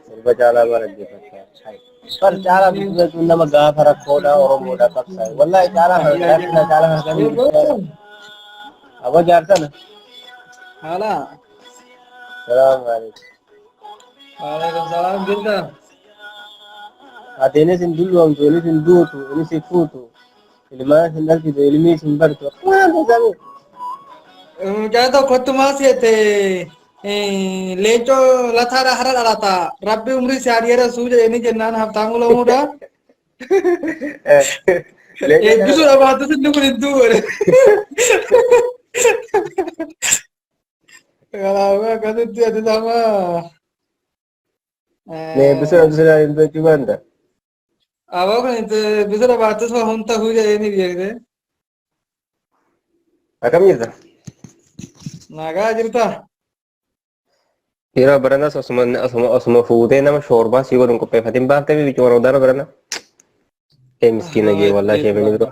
Sirba caalaa bara dhaggeeffachaa. Bar caalaa bilisummaa jechuun nama gaafa rakkoodha Oromoodha qabsaa'e. Wallaahi caalaa kana caalaa kana caalaa kana kan hin Aboo jaarsana. Haalaa. Salaam alaikum. Waalaikum salaam jirta. Ateenis hin dulloomtu, innis hin duutu, innis hin fuutu. Ilmaan hin dhalchitu, ilmiis hin bartu. Waan tasaame. Mucaa tokkotti maal seete leencoo lataadha hara dhalata rabbi umrii si haa dheeressuu jedhanii jennaan haftaamuu lamuudha. Eebbisuudha baattus inni kun hin du'u. Kanaafuu akkasitti ati nama Nee bisira bisira hin beektu banda. aboo kun itti bisira baattus waa humna ta'uu jedhee ni beekte. Akkam jirta? Nagaa jirta. Yeroo baranas osuma osuma osuma fuutee nama shoorbaa sii godhuun qopheeffatiin baaftee bibichuu warra udaana barana. Ee miskiina jee wallaa ishee mini biroo.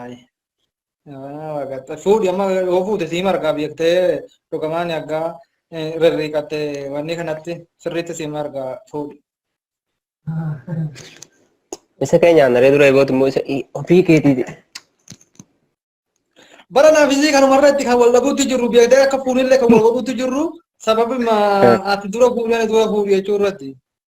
Ayi. Yaa waaqatta. Fuudhi amma yoo fuute siima argaa beektee dhugamaan aggaa rirriiqattee wanni kanatti sirriitti siima argaa fuudhi. Isa keenya aanaree dura eegooti immoo isa ofii keetiiti. Bara naaf isii kanumarra itti kan wal dhabuutti jirru beektee akka fuunillee kan wal godhuutti jirru sababuma ati dura fuudhee dura fuudhi jechuu irratti.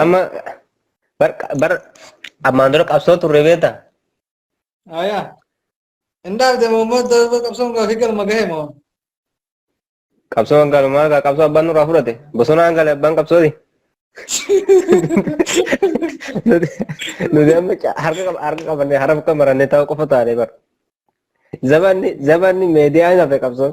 Amma bar bar ammaan dura qabsoo turre beekta. Ayaa. Indaaf deema uummata qabsoon gaafii galma gahe moo. Qabsoo hangalumaa gaa qabsoo abbaan nurraa fudhate. Bosona hangale abbaan qabsooti. Nuti nuti amma ca- harka qab- harka qabannee haraf akka marannee ta'uu qofa taane bar. Zabanni zabanni meediyaan hafe qabsoon.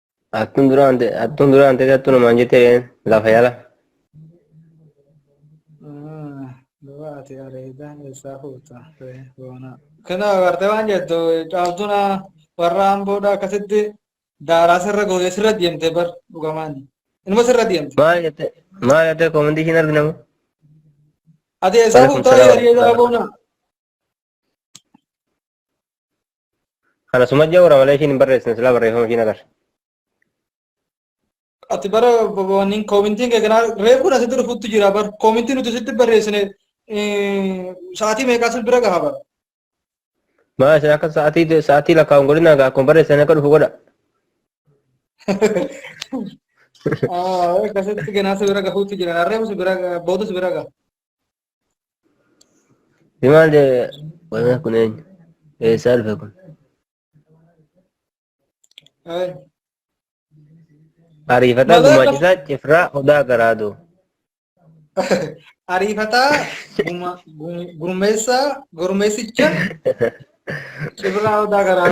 Attun dura ante attun dura ante attu namaan jette lafa yala. Duba ati areeda eessaa fuuta ree boonaa. Kana agartee waan jettu caaltuun warra amboodha akkasitti daaraa sirra gootee sirra deemte bar dhugamaan. Inuma sirra deemte. Maal jette maal jette koomantii ishiin arginamu. Ati eessaa Waalaikum fuuta salaam. areeda boonaa. Kana suma jawra malee ishiin hin barreessine silaa barreeffama ishiin agarra. Ati bara wanniin koomintiin kee kanaa reefuun asitti dhufutti jira bar koomintii nuti sitti barreessine eh, sa'aatii meeqaa si bira gaha bar. Maa isin akka sa'aatii sa'aatii lakkaa'uun godhina egaa akkuma barreessan akka dhufu godha. Ah, Akkasitti ganaa si bira gahuutti jira reefu si bira gaha booda si bira gaha. Himaa jee wanaa kun eenyu? Eessaa dhufe kun? Ariifataa Malee gumaachisaa cifraa odaa garaadoo. Ariifataa guma- gu- gurmeessaa gurmeessicha cibraa odaa garaa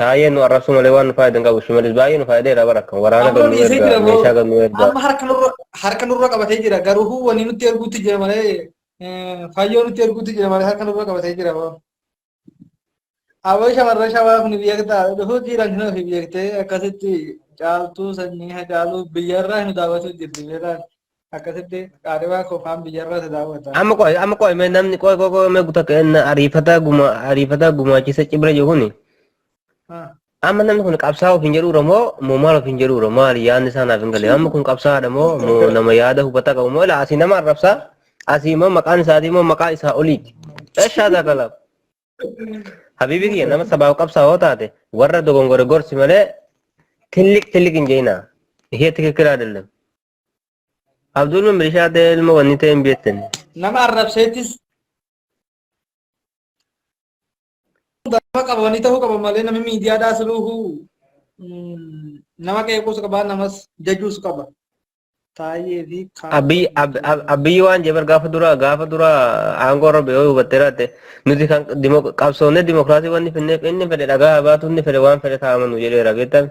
Taayee nu arrabsuu malee waan nu faayide hin qabu. Shimalis baay'ee nu faayideera bara kan waraana Amma gad nu dhiisee erga, jira meeshaa gad nu boo. erga. Amma harka nurra harka nurra qabatee jira. Garuu wanni nutti erguutti jira malee eh, fayyoo nutti erguutti jira malee harka nurra qabatee jira boo. Aboo shamarran shawaa kun beektaa dhufuu jiran hin ofi beektee akkasitti caaltuu sanyii hacaaluu biyyarraa hin daawwatu jirti beekaan. akkasitti qaadhimaa koo faan biyyarraa si daawwata. Amma qoy amma qoy mee namni qoy qoy qoy mee guta kenna ariifataa guma ariifataa gumaachisa cibra jiru kuni. Ah, Amma namni kun qabsaa ofiin jedhuudha moo moo maal ofiin jedhuudha maal yaadni isaa naaf hin galee amma kun qabsaadha moo moo nama yaada hubataa qabu moo ilaa asii nama arrabsaa asii immoo maqaan isaatii immoo maqaa isaa oliiti. Eshaa daakala. Habiibi kiyya nama sabaaf qabsaa hoo taate warra dogongore gorsi malee tilliq tilliq hin jeenaa. Ishee tikikilaa dallam. Abdul min bilishaa ta'e ilma wanni ta'e hin beektan. nama arrabseettis nama qaba wanni ta'uu qaba malee namni miidiyaadhaa siluuhu mm, nama qeequus qaba namas jajuus qaba taa'ee fi kaan Abbiy ab- ab- abbiy waan jebar gaafa dura gaafa dura aangoo irra ba'ee hubattee raatte nuti kan dimo- qabsoofnee dimokiraasii wanni finneef inni fedhe dhagaa baatu inni fedhe waan fedhe taa'amanu jedheera beektan.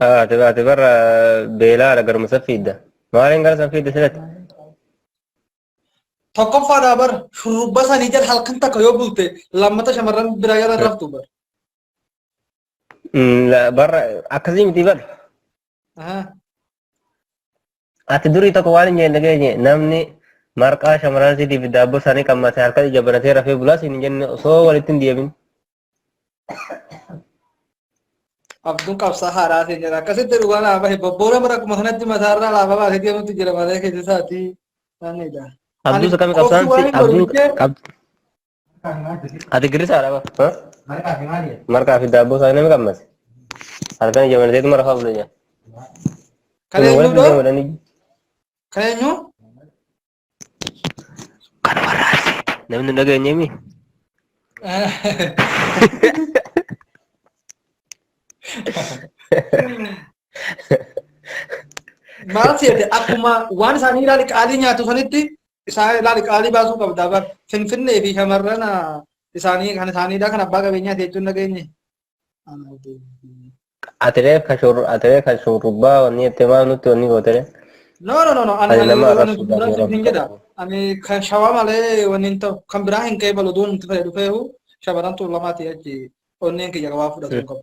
Ati ati bara beelaadha garuma san fiidda. Maaliin gara san fiidda silatti? Tokkoffaadhaa bar shurrubba sanii jala halkan takka yoo bulte lammata shamarran biraa jala hin raftu bar. Mm, la- Bara akkasii miti bara. Ahaa. Ati durii tokko waan hin jenne geenye namni marqaa shamarran siitiif daabboo isaanii qammate halkan ija banatee rafee bulaa siin hin jenne osoo walitti hin deemin. Abduun qabsaa haaraa ta'e jira. Akkasitti dhugaa naa bahe bobboora bara kuma kanatti mataarraa laafaa baasee deemutti jira malee keessa isaatii sanidha. Abduu isa kami qabsaan si abduu qab ati girrisaa dha ba marqaa fi daabboo isaa nama qabmas halkan ija mana teetuma rafaa bula nyaa Kan eenyuudha? Kan eenyu? Kan warra Arsiiti. Namni hin dhageenye mi? Maal seete akkuma waan isaanii ilaali qaalii nyaatu sanitti isaan ilaali qaalii baasuu qabda. Bar Finfinnee fi shamarran ah, isaanii kan isaaniidha kan abbaa qabeenyaa jechuun dhageenye. Atire ka shur atire ka shurba wani ete ma nuti wani gotere. No no no no ani Ani ani nama wani arrabsuudhaaf biraa yeroo siif hin jedha. fudhatu. Ani kan shawaa malee wani hin ta'u kan biraa hin ka'e balu duun itti fayyadu dhufeehu shamarran tuulamaati achi onneen kiyya waa fudhatu hin qabu.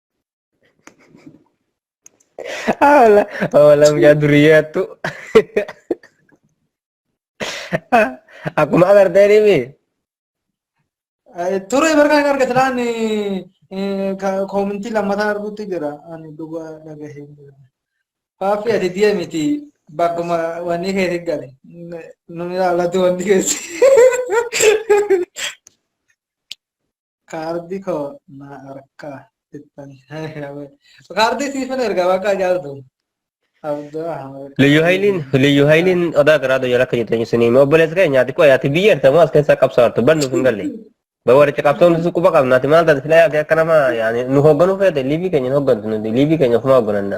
Awala, awala mucaa duriyyaa tu. Akkuma agartee nimi. Ture bargaa hin argate laan koomintii lammataa arguutti jira. Ani dhugaa dhagahee jira. Faaffi ati diya miti bakkuma wanni keessa gale. Nuni ilaalatu wanni keessa. Kaardi koo na harkaa ittan kaardi siifan erga bakka jaaltu abduu ahmed Liyyu Hayiliin Liyyu Hayiliin odaa garaa doyyaa akka jettu eenyusin hime obboleessa kee nyaati qoya ati biyya erta moo as keessaa qabsaa hartu bar nuuf hin galle. Bar waricha qabsoon nuti quba qabna ati maal taate silaa yaate akka nama yaani nu hoogganuu feete liivii keenya hin hooggantu nuti liivii keenya ofumaa hooggananna.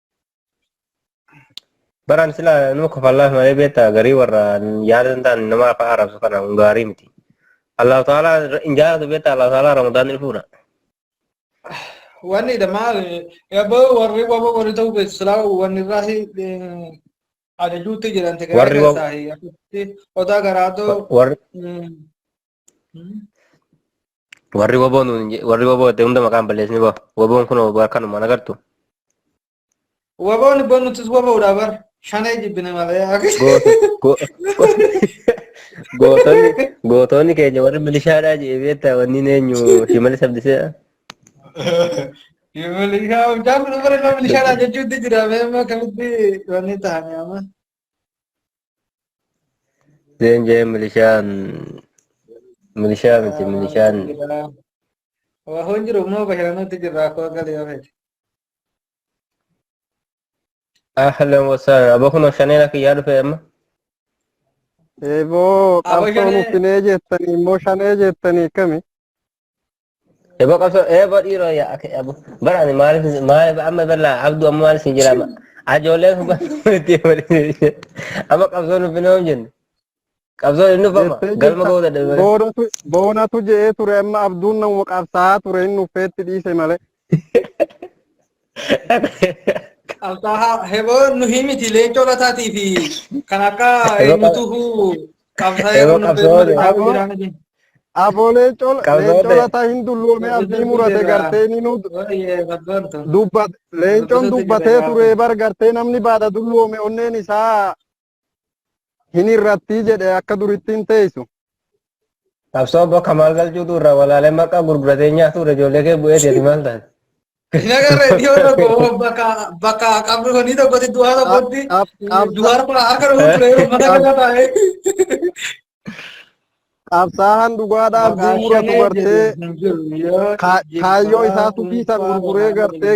Baraan silaa nama kofallaaf malee beektaa garii warra yaada hin taane nama afaan arrabsu kana kun gaarii miti. Allahu ta'ala hin jaalatu beektaa Allahu ta'ala Ramadaan ni fuudha. Wanni dha maal eebboo warri wabo warri ta'uu beektu silaa wanni irraa si ajajuutti jiran Warri wabo- tegeesaa odaa garaatoo Warri Warri waboo nuun je- warri waboo itti hunda maqaan balleessini boo. Waboon kun waboo akkanuma na gartu. Waboon ibboo nutis waboodha bar. Shanee jibbine malee. Goota- go- Gootonni gootonni keenya warri milishaadhaa jedhee beektaa wanni eenyu shimalis abdisee. Milishaa hojjaan kun bara nama milishaadha jechuutti jira. Mee amma akkamitti wanni ta'anii amma. Jeen jeen milishaan milishaa miti milishaan Waa hoon jiru immoo bashannanutti jirra akkoo galii yoo fedhe. ahlan wasahlan aba kunoo shaneen akka yaa dhufee amma Eeboo Aboo qabsoon shanee. uffinee jettanii immoo shanee jettanii akkami? Eba qabso eba dhiiroo yaa akka eba bara ani maaliif maaliif amma bala abdu amma maaliif si jira amma ajoolee kun itti waliin amma qabsoon nuuf hin oom jenne qabsoon hin dhufama jettee galma jirta. ga'uu dadhabe malee. Boonatu boonatu je'ee ture amma abduun nama qabsaa'aa ture inni uffeetti dhiise malee. Qabsaa'aa heboo nu himiti leencoo lataatii fi kan akka eenyutuhu qabsaa'ee Heboo qunnamtee qabsoo uummata dhaabuu Aboo. jiraana jenna. Aboo leencoo Qabsoo leencoo ta'e. lataa hin dulloomee abdii murate gartee ni nu Waayee qabsoon tun. dubbat leencoon Qabsoo dubbatee ta'e ture bar gartee namni baada dulloome onneen isaa Hin irrattii jedhe akka durittiin teessu. Qabsoo obbo Kamaal Galchuutu irraa walaalee maqaa gurguratee nyaatuudha ijoollee kee bu'ee jedhi maal taate. Nagarra iddoo tokko bakka bakka qabrii tokkotti du'aa tokkotti du'aa tokko harka dhufu ture ummata kana taa'ee. Qabsaahan dhugaadhaaf diimura dubartee kaayyoo isaa tufiisan gurguree gartee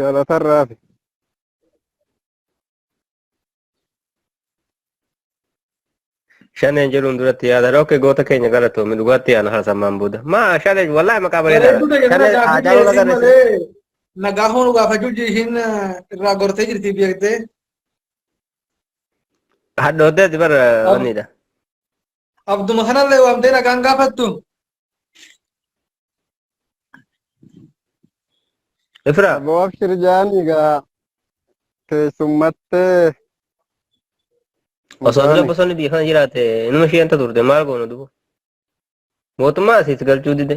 Galatarraa hafe. Shaneen jedhuun duratti yaadan ok goota keenya galatoomi dhugaatti yaana hasammaan booda. Maa shaneen wallahi maqaa bareedaadha. Bareedduu ta'e kana Shaneen aadaa gaafii wal dhiyeessuu agarsiisa. malee nagaa hoonu gaafachuu jiishiin irraa gortee jirti beektee. Hadhooddeeti bara wanniidha. Abduma kanallee waamtee nagaan gaafattu. Ifra. Aboo abshir jaan egaa keessummattee. Osoo dura bosonni biyya kana jiraate inuma ishee anta turte maal goona dubu. Mootummaa asiis galchuu dide.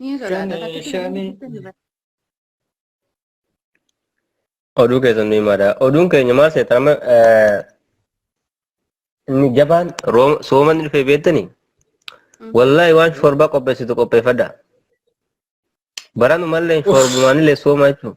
Ni sodaata. Shani, Fakkii shani. kana keessatti ni Oduu keessan ni himaadha. Oduun keenya maal seetan amma eh, inni jabaan rooma- soomanni dhufee beektanii? Wallaahi waan shorbaa qopheessitu qopheeffadha. Baranu mallee shorbumaanillee sooma jechuudha.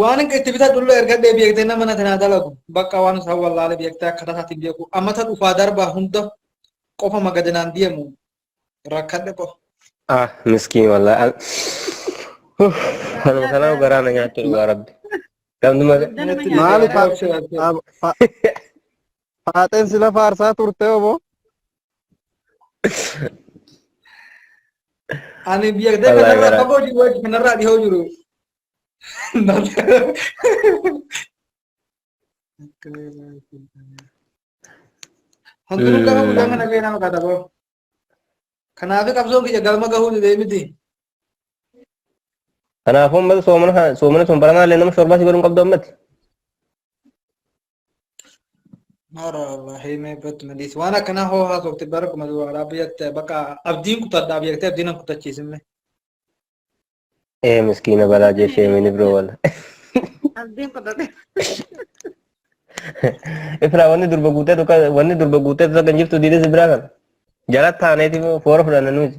Waan itti bitadhu illee ergadhee beektee nama natti naa dalagu bakka waan isaa wallaalee beektee akkaataa isaatiin beeku ammata dhufaa darbaa hunda qofa magadanaan deemu rakkadhe qofa. Ah, miskiin wallah. An- Huh, Anuma kanaa garaa na nyaatte dhugaa rabbi. Gamni maga. Natti Maali garaa fa- ishee laatee. fa- fa- Faaxeen sila faarsaa turte obo. Ani biyya gadi Wallahi kanarraa garaa. fagoo jiru wajji kanarraa dhihoo jiru. Hundinuu gaafa guyyaan kana ga'e nama kadhaba. Kanaafii qabsoon kiyya galma gahuu didee miti. Kanaafuu ummata soomana soomana sun baranaa illee nama shorbaa si godhuun qabdu ammatti. Mara Allah himee bat maliis waan akkanaa hoo haasofte bara kuma duwwaaraa biyyatti bakka abdiin kutadhaaf jettee abdiin hin kutachiisinne. Ee miskiina balaa jeeshee mini biroo wala. Abdiin kutadhe. Ifraa wanni durba guutee tokko wanni durba guutee tokko kan jirtu diinis biraa kan. Jala taaneeti foora fudhanna nuti.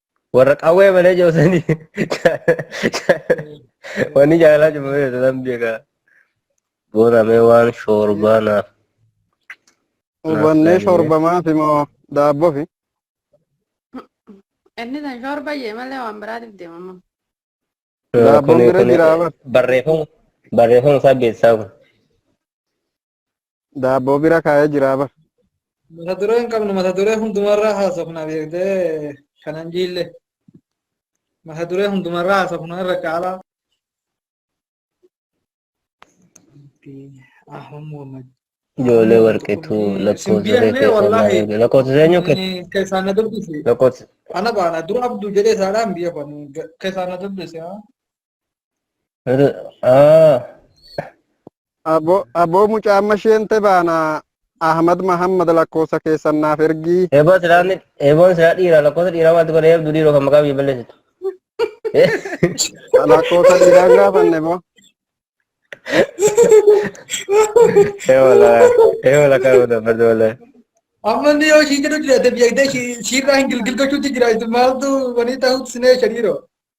Warra qawwee malee joosanii wanni jaalala cufamee jedhan beekaa. Boonamee waan shoorbaa naaf. Hubannee shorbamaa fi moo daabboo fi Inni san shoorba jee malee waan biraatiif deemamu. Daabboon bira jiraa bar. Barreeffama barreeffama isaa beeksisaa kun. Daabboo bira kaa'ee jiraa bar. Mata duree hin qabnu mata duree hundumarraa haasofna beektee kanan jiille. Mata duree hundumarraa haasofna irra caalaa. Ahmad Muhammad. Ijoollee warqeetu lakkoofsa reefee Simbiyanee sirnaa wallaahi. erge. Lakkoofsa seenyuu kee Keessaan na dubbisi. lakkoofsa Ana baana dura abduu jedhee saadhaan biyya kun keessaan na dubbisi. Ah, Abo aboo mucaa amma isheen te baana Ahmad Mahammad lakkoofsa keessan naaf ergii. eeboo silaa ni- eeboon silaa dhiira lakkoofsa dhiiraa maaltu godha eebdu dhiiroo kan maqaa biyya balleessitu. Lakkoofsa dhiiraa hin gaafanne boo. Eewola eewola kan godha barda wala. Amma inni yoo ishii jedhu jiraate biyya ishii- ishiirraa hin gilgil gochuutti jira. Isin maaltu wanii ta'uutti sinee shariiroo.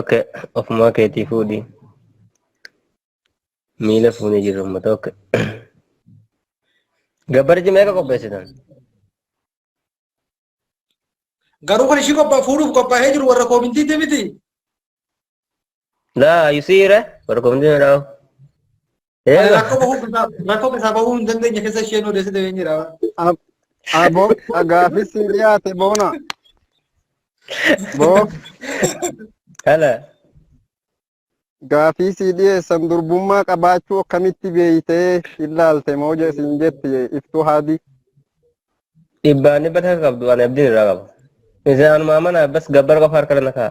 Oke, ofumaa keetii fuudhi. Miila fuunee jirru uummata oke. Gabbarji meeqa qopheessitan? Garuu kan ishii qophaa fuudhuuf qophaa'ee jiru warra koomintiitti miti. Nah, you see that? Baru kemudian tahu. Ani Iya, rakkoo bahuu keessaa rakkoo keessaa bahuu hin dandeenye keessa isheen odeessite hin jira. Ab- Abo gaafis si dhiyaate boona. Boo Kana. gaafii si dhiyeessan durbummaa qabaachuu akkamitti beeytee ilaalte moo je- siin jetti iftuu haadii. Dhibbaan dhibba takka qabdu ani abdiin irraa qaba. Isaan maamanaa bas gabbar qofa harka lana ka'a.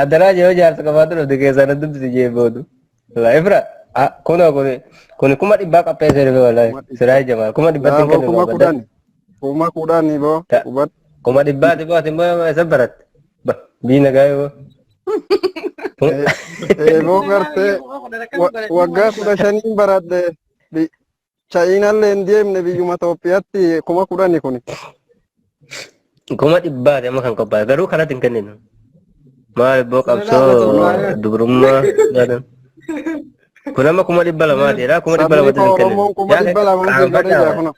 Adaraa yoo jaarsa qabaatu dhufte keessaa na dubbisi jee boodu. Walaa ifra kunoo kuni kuni kuma dhibbaa qapheessee dhufe walaa siraa jamaa kuma dhibbatti hin Naafoo kennu kuma kudhan. Kuma kudhan boo. Ta- Kubat. Kuma dhibbaati boo ati immoo isa baratte. Ba diina gaa'ee boo. Eeboo gartee wa- waggaa kudha shaniin baradhe. Bi- Chaayinaallee hin deemne biyyuma Itoophiyaatti kuma kudhani kuni. Kuma dhibbaati amma kan qophaa'e garuu kanatti hin kenninu. Maal ibboo qabsoo dubrummaa jedhan. Kun amma kuma dhibba lamaati jedha kuma dhibba Sabni lamaatti koo hin Oromoon kenninu. kuma dhibba lama hin sirbanii jira Qaanfadhaa kuna.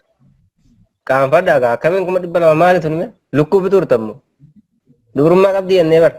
qaanfadhaa gaa akkamiin kuma dhibba lama maali tuni mee? Lukkuu bituu turtammoo. Dubrummaa qabdi jennee bara.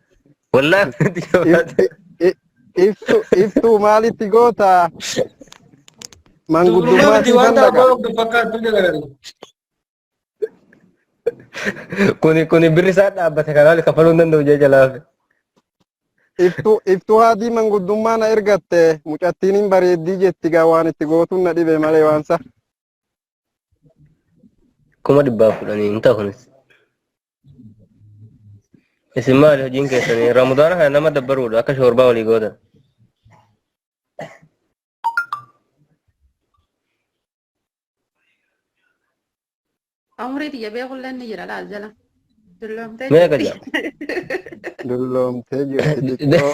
Wallaan nuti yoo If- baate. i- i- Iftu iftuu maalitti goota? Dubrummaa Manguddummaa miti siifan wanta dhaqa. abbaa of fakkaattu jedhan. Kuni kuni birri isaa dhaabbate kanaa oli kaffaluu hin danda'u jee jalaafe. Iftuu iftuu haadii manguddummaa na ergatte mucattiin hin bareeddii jetti gaa waan itti gootuun na dhibe malee waan sa. kuma dhibbaaf kudhanii hin ta'a kunis. Isin maali hojiin keessanii? Ramadaana kana nama dabbaruudha akka shoorbaa walii gootan. Umurii tiyya beekulleen ni jira laal jala. Dulloomtee Mee akka jirti. jedha. Dulloomtee jirti xiqqoo.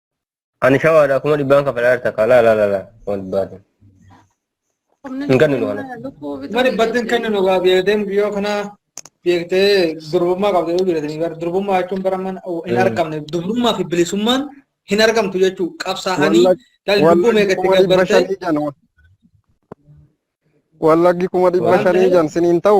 Ani shawaadha kuma dhibbaan kafalaa jirta kaa laa laa laa laa kuma dhibbaati. Hin kenninu kana. Kuma dhibbatti hin kenninu gaa beekteen biyya kana beektee durbummaa qabdu yoo jiraatanii bara durbummaa jechuun bara mana hin argamne durbummaa fi bilisummaan hin argamtu jechuu qabsaa'anii dhalli dubbuu meeqatti gabbartee Wallaggi kuma dhibba shanii jan siniin ta'u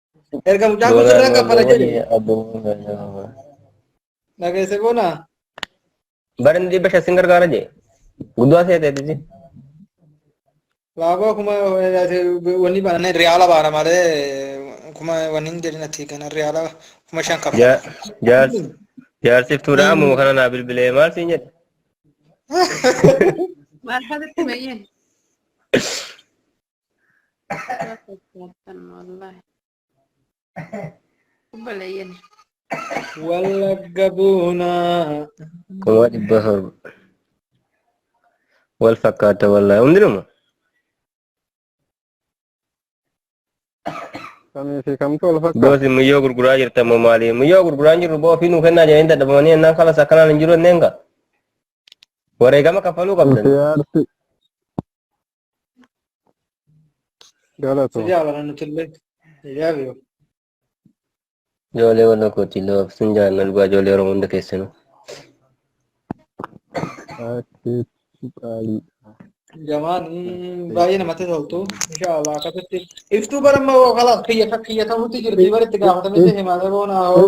Erga mucaan kun sirraa kaffala jedhe. Dhageesse boona. Barni dhibba shan sin gargaara jee. Guddaa seete tisi. Baaboo kuma wanni baana riyaala baana malee kuma wanni hin jedhin ati kana riyaala kuma shan kaffala. Jaarsi jaarsif tuudha ammoo kana naa bilbilee maal siin jedhe. Maal fakkatti meeyyeen? Wallagga buunaa. Kuma dhibba torba. Wal fakkaata wallaahi hundinuma. Kamii fi kamtu wal fakkaata. Boosi muyyoo gurguraa jirta moo maali? Muyyoo gurguraa hin jirru boo ofii nuu kennaa jedhanii dadhabamanii ennaan kalas akkanaan hin jiru enneen gaa. Wareegama kaffaluu qabdan. Siyaarsi Galatoo. Sijaa bara nuti illee. Sijaa biyo. Ijoollee warra kooti loof sin jaalladha dhugaa ijoollee Oromoo hunda keessanuu. Akkeetti qaalii. Jamaan baay'ee namatti toltu. Inshaallah akkasitti. Iftuu bara immoo kalaas kiyya kiyya ta'utti jirti bara itti gaafatamee deemaa ta'e boona hoo.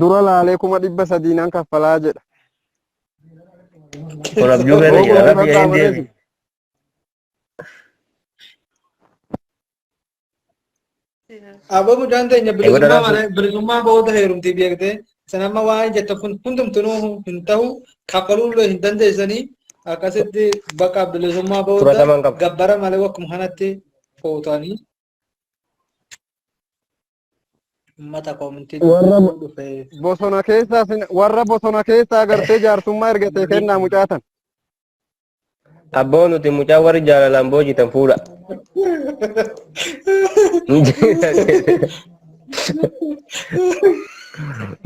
Dura laalee kuma dhibba sadii nan kaffalaa jedha. Kun abjuu keessa jira. Rabbi Googuun gaheen deebi. qaxxaamureeti. Aboo mucaan keenya Eegoota bilisummaa raafuu. malee bilisummaa booda heerumtii beektee san amma waan jettu kun hundumtuu hin ta'u kaffaluullee hin dandeessanii akkasitti bakka bilisummaa booda Fudhataman qaba. gabbara malee wakkuma kanatti fuutanii Ummata koomintii Warra dubbisuu dhufee. bosona keessaa sin- warra bosona keessaa agartee jaarsummaa ergatee kennaa mucaatan. Abboo nuti mucaa warri jaalalaan boojitan fuudha.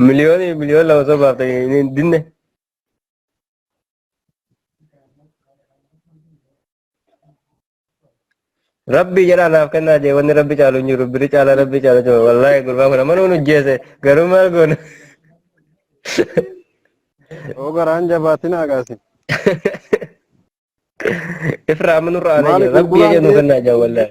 Miliyoonii miliyoon lama sobaaf ta'e hin dinne. Rabbii jedhaa naaf kennaa jee wanni rabbi caalu hin jiru biri caalaa rabbi caalu jee wallaahi gurbaa kun amma nuun ujjeese garuu maal goona. Oo garaan jabaatin agaasi. Ifraa amma nurra aanee Maali jira rabbii gurguraan jedhu kee? kennaa jee wallaahi.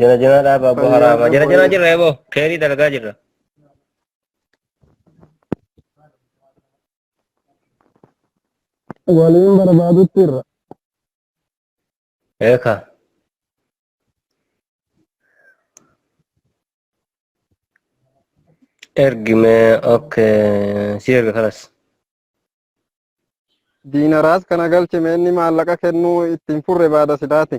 Jana jana dhaaba abbo Fayyaa haraama. Jana jana fayyaa. jirra ebo. Keerii dalagaa jirra. waliin barbaadutti irra Eeka. Ergime okay. Si erga kalas. diinaraas kana galchime inni maallaqa kennuu ittiin furre baada sidaati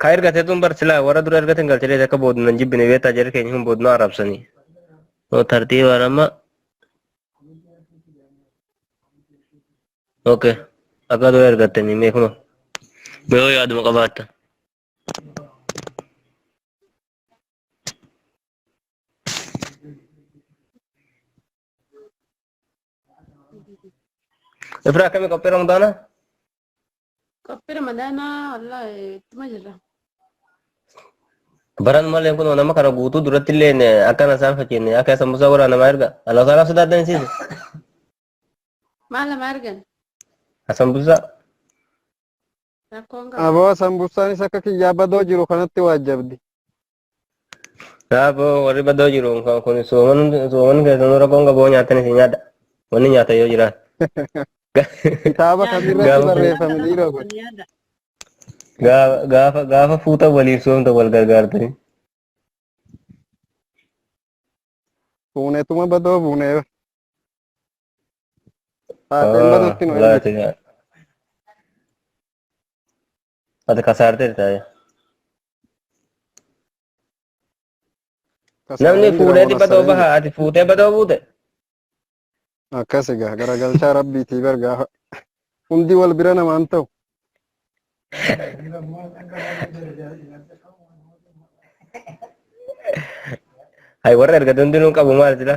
Ka ergate tun bar silaa warra dura ergatan galchitee akka boodna hin jibbine beektaa jarri keenya hin boodna arrabsanii. Yoo tartiibaan amma. Ok. Akka dura ergattanii mee kunoo. Mee yoo yaaduma qabaattan. Ifra akkami qophii Ramadaana? Qophii Ramadaanaa wallaahi ittuma jirra. Baran malee kun nama kana guutuu duratti illee akkana isaan fakkeenya akka sambusaa waraana namaa erga. Alaa saalaaf sodaatan isiise. Maal lama argan? Asambusaa. Rakkoon qabu. Aboo sambusaanis akka kiyyaa badoo jiru kanatti waajjabdi. Kanaafuu warri badoo jiru kun sooman keessanuu rakkoon qaboo nyaatan isin nyaadha. Wanni nyaata yoo jiraate. Kitaaba kamirratti barreeffame dhiiroo kun. Gaafa gaafa fuuta waliif soomta wal gargaartanii. Fuunetuma badoo fuunee. Taateen badutti nu ergite. Ati kasaarteerta. Namni fuudheeti badoo baha ati fuutee badoo buute. Akkas egaa garagalchaa rabbiitii bar gaafa hundi wal bira namaan ta'u. Hay warra erga dundinuu qabu maal jira?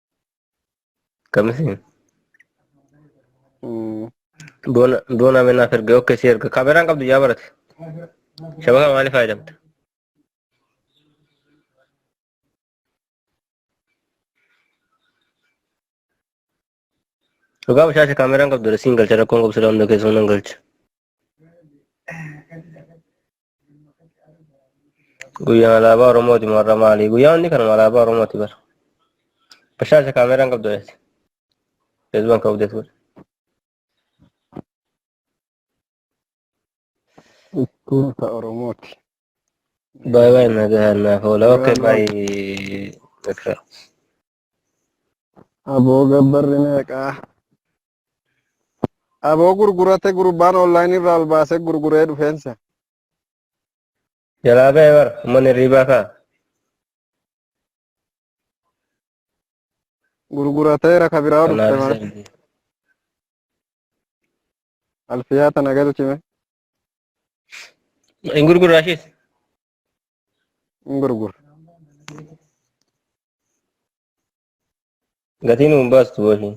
Kamisiin. Mm. Doona doona mee naaf erga ok si erga kaameraan qabdu yaa barate. Shabakaa maaliif fayyadamta? Dhugaa bashaasha kaameraan qabdu dha siin galcha rakkoon qabsu dha hunda keessoo nan galcha. Guyyaan alaabaa Oromooti warra maalii? Guyyaan inni kanuma alaabaa Oromooti bara. Bashaasha kaameeraan qabdu dheesse. Feesbuukaan ka'uu deetu godhe. Ittiin ta Oromooti. Baay'ee baay'ee nagaa naaf oola. Okay baay'ee. Aboo gabbarri meeqaa? Aboo gurgurate gurbaan online irraa ol baasee gurguree dhufeensa. Jalaa ba'e bara ummanni hirriibaa ka'a. Gurgurateera ka biraa dhufte Kanaaf maal? isa Alfiyaa tana galchime. hin gurgurraa ishees. hin gurgura. Gatiin hin baastu boshi.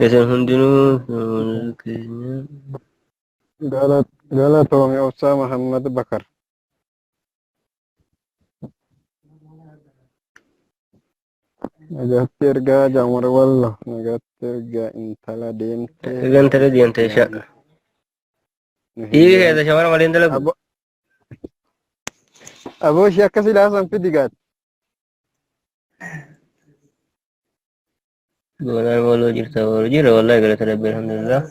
Isin hundinuu fuula keenya. Gala- Galatoomi Obsaa Mahammad Bakar. Nagaatti ergaa Jaamar Wallo. Nagaatti ergaa intala deemtee. Gantara deemtee sha. Dhiirri keessa shamara malee hin dalagu. Abo- Aboo ishee akkasii laasan fidi gaati. Goonaan waloo jirta waloo jira wallahi galata rabbi alhamdulillah.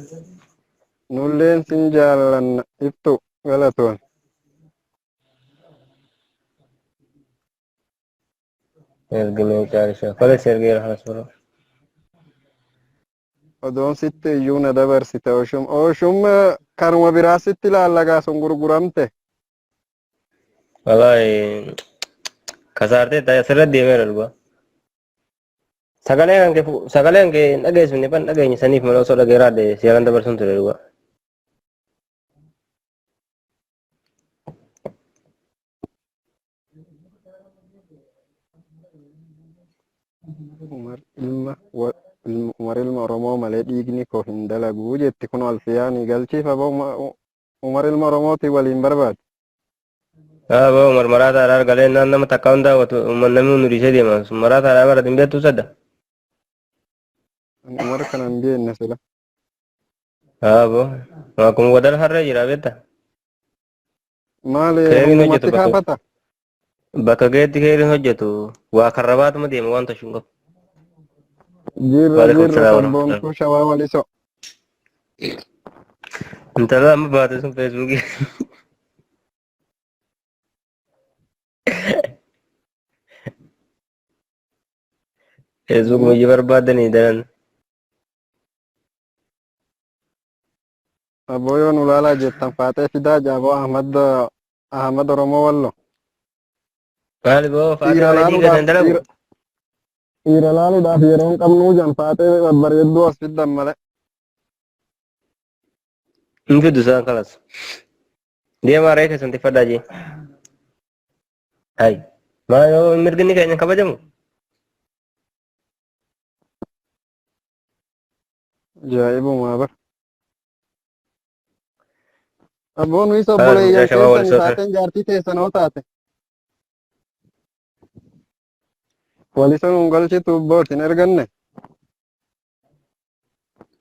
Nulleen sin jaallanna ibtu galatoon. Ergamee caalisa. Kale si ergeera halas biroo. Odoon sitti iyyuu na dabarsite oshum oshum kanuma biraa sitti laallagaa sun gurguramte. Walaahi kasaartee ta'e asirra deemee lolba. Sagalee kan kee fu- sagalee kan kee hin dhageessifne ban dhageenye saniif malee osoo dhageeraa de seeraan dabarsuun ture dhugaa. Umar ilma wa- ilma- Umar ilma Oromoo malee dhiigni koo hin dalagu jetti kun alfiyaanii galchiif aboo Uma- U- Umar ilma Oromooti waliin barbaadu. Aboo Umar maraataa irraa argalee naan nama takka hundaa watu umman namni hundu dhiisee deema sun maraataa irraa barate hin beektu sadda. Ani Umar kana hin beekne sila. Aboo akkuma wadal harree jira beekta. Maali Keeriin hojjeta hundumatti bakka kaafata? bakka gaheetti keeriin hojjetu waa karrabaatuma deema waan tashu hin qabu. Jirra Waalaikum jirra salaam warahmatullahi. sabboontuu shawaa walisoo. Intala amma baate sun feesbuukii. Feesbuukuma ijji barbaadanii daran. Aboo yoo nu laalaa jettan faaxee fidaa jaaboo Ahmad Ahmad Oromoo Wallo. Maali boo faaxee Dhiira bareedii laaluudhaaf gadan dalagu. dhiira- dhiira laaluudhaaf yeroo hin qabnuu jan faaxee babbareedduu as fiddan malee. Hin fiddu isaan kalas. Deemaa reefa isin tiffadhaa jee. Hayi. Maali boo mirginni keenya hin kabajamu. Ajaa'ibumaa bar. Abboon nuyi Haa obboleeyyan guyyaa shabaa keessan walisoota. isaatiin jaartii teessan hoo taate. Waliso nuun galchitu abbooti hin erganne.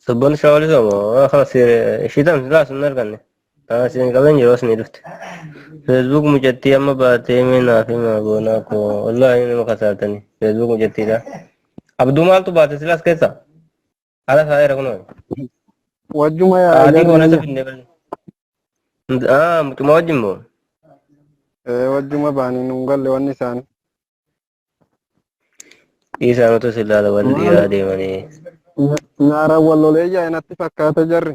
Sabboon isaa walisoo moo? Haa kala siire. Shiitan silaa sun arganne. Asiin qaban yeroos ni dhufte. Facebook mucattii amma baatee mee naaf himaa goonaa koo wallaahi nama kasaartanii Facebook mucattiidha. Abduu maaltu baate silaas keessa? Ala taa'eera kunoo. Wajjuma yaa Sa'aatii jarri boonessa biyya. finnee balle. Ah mucuma wajjin moo? Ee, Wajjuma baanii nuun galle wanni isaanii. Dhiisaan utuu si ilaala wal Maali? dhiiraa deemanii. Nya- Nyaaraan wal lolee yaa'e natti fakkaata jarri.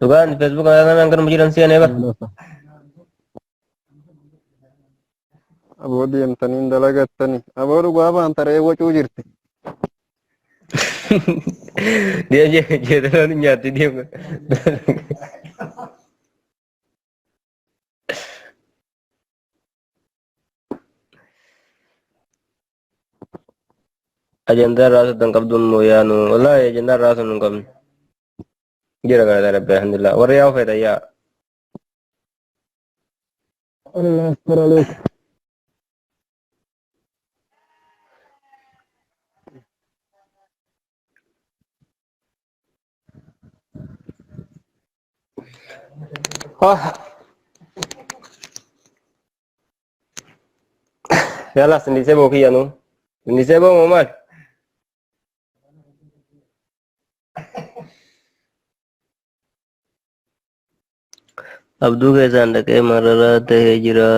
Dhugaan Facebook irraa kanaan kan jiran seenee bar. Aboo deemtanii hin dalagattanii. Aboo dhugaa baan taree wacuu jirti. Dia je je dalam nyati dia. ajandaa raasuudhaan qabduun moo yaanu wallaahi ajandaa raasuun hin qabne jira galataa rabbi alhamdulillah warri yaa feetan yaa Allah astar alaik. Yala sindise bo kiya no. Sindise bo mo mal. Abduu keessaan dhaqee mararaa ta'ee jira.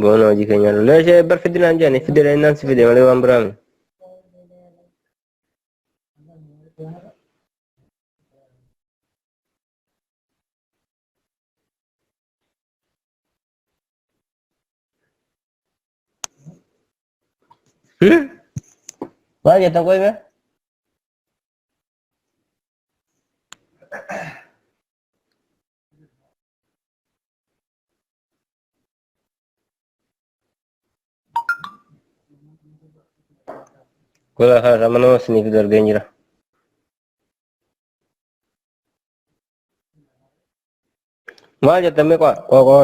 Boona hojii keenya lollee ishee bar fidinaan jedhani fidela innaan si fide malee waan biraa miti. Hmm? Maal jettan qoy bee? Gola kana mana siniif darbeen jira. Maal jettamee qo'a qo'a qo'a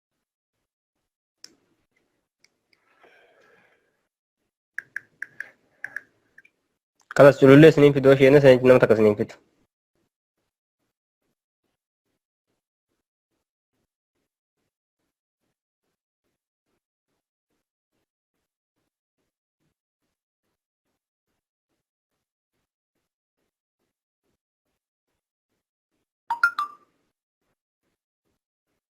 Kanas culullee isiniin fidoo isheen isiniin nama takka isiniin fidu.